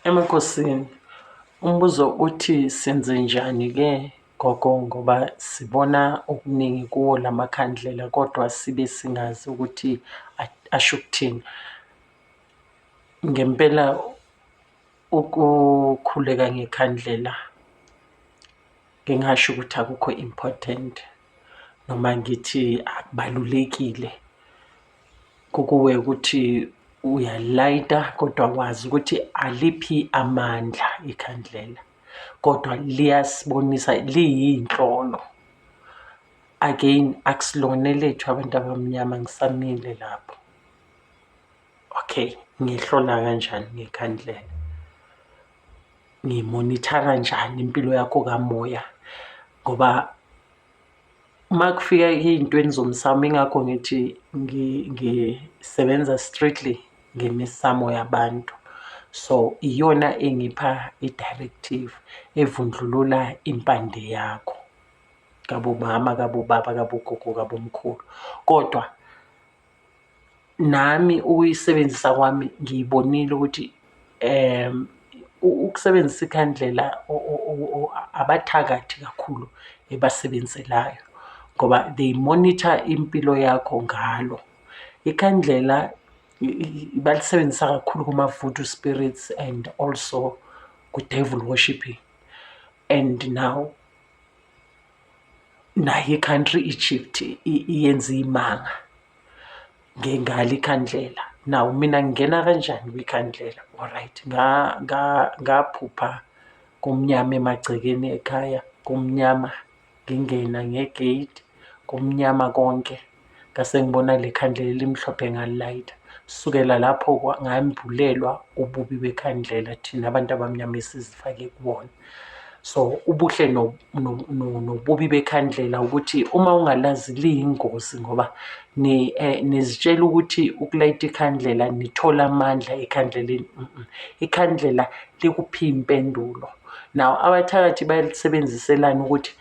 Emakhosini, umbuzo uthi senze njani-ke gogo ngoba sibona okuningi kuwo la makhandlela kodwa sibe singazi ukuthi asho ukuthini. Ngempela ukukhuleka ngekhandlela ngingasho ukuthi akukho important noma ngithi akubalulekile. Kukuwe ukuthi uyalayita kodwa wazi ukuthi aliphi amandla ikhandlela kodwa liyasibonisa liyinhlolo. Again akusilona elethu abantu abamnyama ngisamile lapho. Okay, ngihlola kanjani ngekhandlela? Ngimonithara njani impilo yakho kamoya ngoba Uma kufika iy'ntweni zomsamo ingakho ngithi ngisebenza strictly ngemisamo yabantu. So iyona engipha i-directive evundlulula impande yakho kabomama, kabobaba, kabogogo, kabomkhulu kodwa. Nami ukuyisebenzisa kwami ngiyibonile ukuthi ukusebenzisa ikhandlela abathakathi kakhulu ebasebenzelayo ngoba they monitor impilo yakho ngalo. Ikhandlela balisebenzisa kakhulu kuma-voodoo spirits and also ku-devil worshipping and now. nayo i-country i-chiefs iyenza iy'manga ngengalo ikhandlela. Nawu mina ngingena kanjani kwikhandlela o-right ngaphupha kumnyama emagcekeni ekhaya kumnyama ngingena nge-gate kumnyama konke. ngase ngibona le khandlela elimhlophe ngalilayitha sukela lapho ngambulelwa ububi bekhandlela thina abantu abamnyama esizifake kubona so ubuhle nobubi bekhandlela ukuthi uma ungalazi liyingozi ngoba eh, nizitshela ukuthi ukulayita ikhandlela nithola amandla ekhandleleni ikhandlela likuphi impendulo nawo abathakathi balisebenziselani ukuthi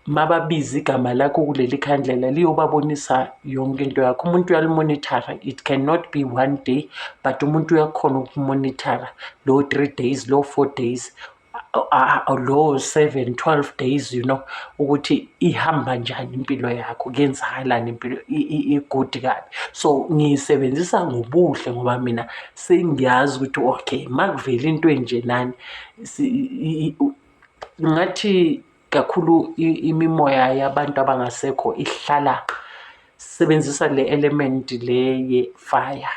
mababize igama lakho kuleli khandlela liyobabonisa yonke into yakho umuntu uyalimonithara it cannot be one day but umuntu uyakhona ukumonithara lowo three days lowo four days lowo seven twelve days you know ukuthi ihamba njani impilo yakho kuyenzakalani impilo igudi kabi so ngiyisebenzisa ngobuhle ngoba mina sengiyazi ukuthi okay makuvela into enjenani ngathi kakhulu imimoya yabantu abangasekho ihlala sebenzisa le element le ye fire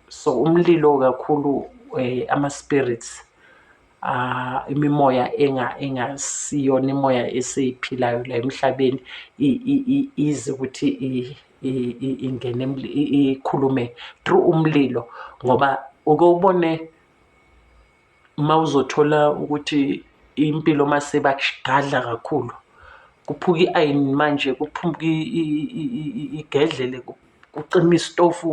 so umlilo kakhulu eh, ama spirits uh, imimoya enga engasiyona imoya eseyiphilayo la emhlabeni ize ukuthi ingene ikhulume through umlilo ngoba uke ubone Uma uzothola ukuthi impilo uma sebakugadla kakhulu kuphuka i-ayini manje kuphuka igedlele kucima isitofu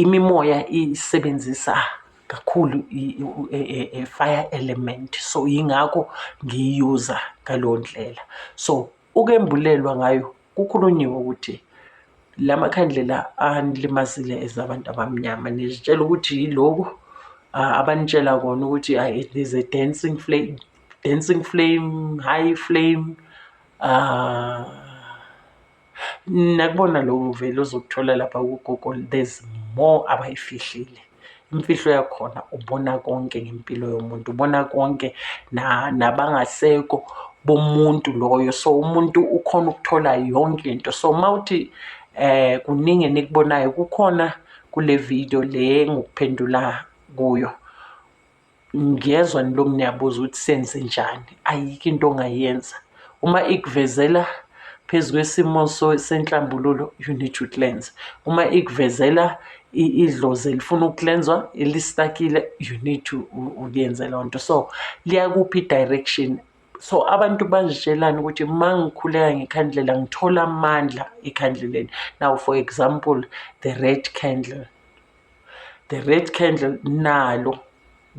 imimoya isebenzisa kakhulu i-fire element so yingakho ngiyiyuza ngaleyo ndlela so. Ukembulelwa ngayo kukhulunyiwe ukuthi la makhandlela anilimazile as abantu abamnyama nizitshela ukuthi yiloku abanitshela kona ukuthi it is a dancing flame, dancing flame, high flame uh, nakubona loku vele uzokuthola lapha kugogo there's more abayifihlile. imfihlo yakhona ubona konke ngempilo yomuntu ubona konke nabangaseko bomuntu loyo so umuntu ukhona ukuthola yonke into so uma uthi eh kuningi enikubonayo kukhona kule video le ngikuphendula kuyo Ngiyezwa nilokhu niyabuza ukuthi senze njani, ayikho into ongayenza. Uma ikuvezela phezu kwesimo senhlambululo you need to cleanse. Uma ikuvezela idlozi elifuna ukuklenzwa elistakile you need to ukuyenze leyo nto. So liyakupha i-direction so abantu bazitshelani ukuthi uma ngikhuleka ngekhandlela ngithola amandla ekhandleleni. Now for example the red candle. The red candle nalo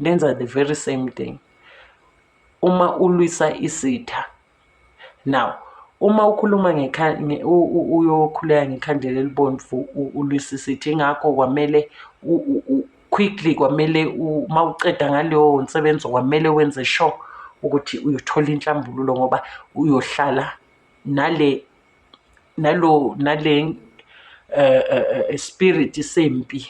lenza the very same thing uma ulwisa isitha now uma ukhuluma uyokhuleka ngekhandlela elibomvu ulwisa isitha ingakho kwamele quickly kwamele uma uceda ngaleyo nsebenzo kwamele wenze sure ukuthi uyothola inhlambululo ngoba uyohlala nale nalo nale eh, eh, eh, spirit sempi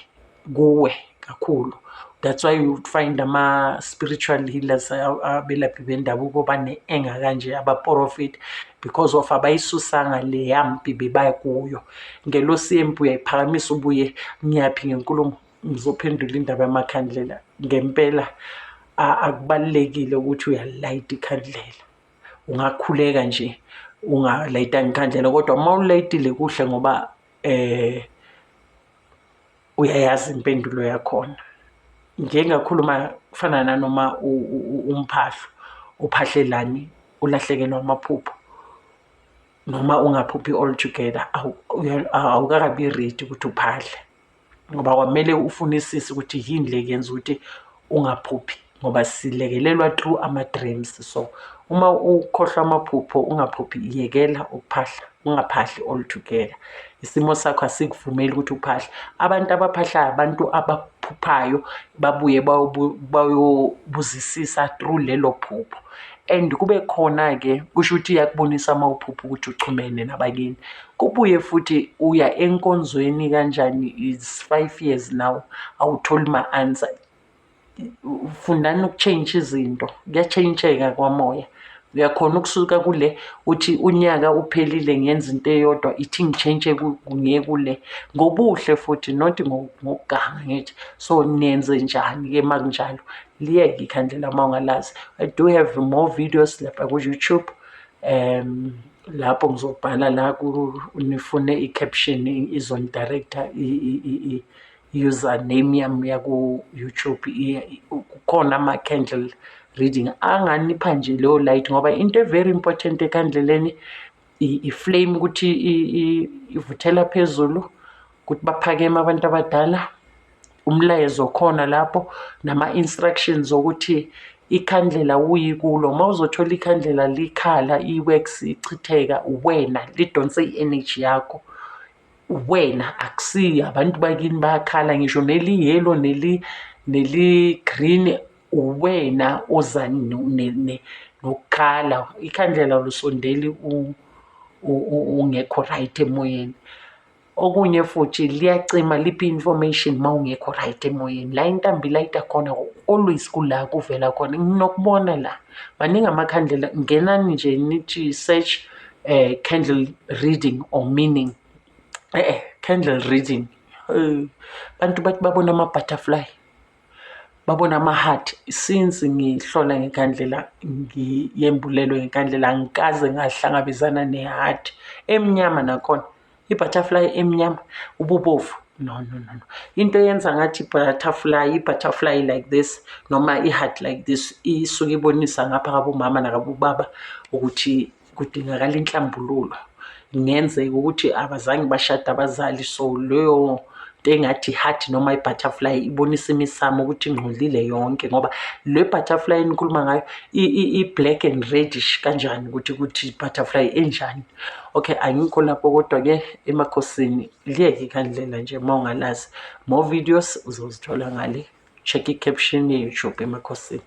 kuwe kakhulu that's why you find ama spiritual healers abelaphi bendabuko bane enga kanje aba profit because of abayisusanga le yampi bebaya kuyo ngelo sempi uyayiphakamisa ubuye ngiyaphi ngenkulumo ngizophendula indaba yamakhandlela ngempela akubalekile ukuthi uyalayita ikhandlela ungakhuleka nje ungalayitanga ikhandlela kodwa uma ulayitile kuhle ngoba eh uyayazi impendulo yakhona njengakhuluma kufana nanoma umphahlo uphahlelani ulahlekelwa amaphupho noma ungaphuphi all together awukakabi ready ukuthi uphahle ngoba kwamele ufunisise ukuthi yini le yenza ukuthi ungaphuphi ngoba silekelelwa through ama-dreams so uma ukhohlwa amaphupho ungaphuphi yekela ukuphahla ungaphahli altogether isimo sakho asikuvumeli ukuthi uphahle abantu abaphahlayo abantu abaphuphayo babuye bayobuzisisa through lelo phupho and kube khona-ke kusho ukuthi iyakubonisa uma uphupha ukuthi uchumene nabakini Kubuye futhi uya enkonzweni kanjani is five years now awutholi ma-answer. Fundani ukutshentsha izinto kuyatshentsheka kwamoya. Uyakhona ukusuka kule uthi unyaka uphelile ngenza into eyodwa ithi ngitshentshe ngiye kule ngobuhle futhi not ngokuganga ngithi so nenze njani-ke uma kunjalo liyeke ikhandlela uma ungalazi. I do have more videos lapha ku-YouTube um lapho ngizobhala la nifune i-caption izonidirector i-username yami yaku-youtube kukhona ama-candle reading anganipha nje leyo light ngoba into e-very important ekhandleleni i-flame ukuthi ivuthela phezulu ukuthi baphakeme abantu abadala umlayezo khona lapho nama-instructions okuthi ikhandlela uyikulo uma uzothola ikhandlela likhala i-wax ichitheka uwena lidonse i-energy yakho uwena akusiyo abantu bakini bayakhala ngisho neliyelo neli-green uwena oza nokukhala ikhandlela lusondeli ungekho right emoyeni okunye futhi liyacima liphi information uma ungekho right emoyeni la intambi layita khona always kula kuvela khona nginokubona la maningi amakhandlela ngenani nje nithi search um candle reading or meaning e-e candle reading abantu bathi babona ama-butterfly babona ama-heart since ngihlola ngekhandlela ngiyembulelwe ngekhandlela angikaze ngahlangabezana ne-heart emnyama nakhona ibutterfly emnyama ububovu no no no no into eyenza ngathi butterfly ibutterfly like this noma i-heart like this isuke ibonisa ngapha kabomama nakabobaba ukuthi kudingakala inhlambululo kungenzeka ukuthi abazange bashade abazali so leyo into engathi heart noma i-butterfly ibonisa imisamo ukuthi ingcolile yonke ngoba le butterfly enikhuluma ngayo i-black and redish kanjani ukuthi ukuthi butterfly enjani okay angikho lapho kodwa-ke emakhosini liyeke kandlela nje uma ungalazi more videos uzozithola ngale check i-caption ye-youtube emakhosini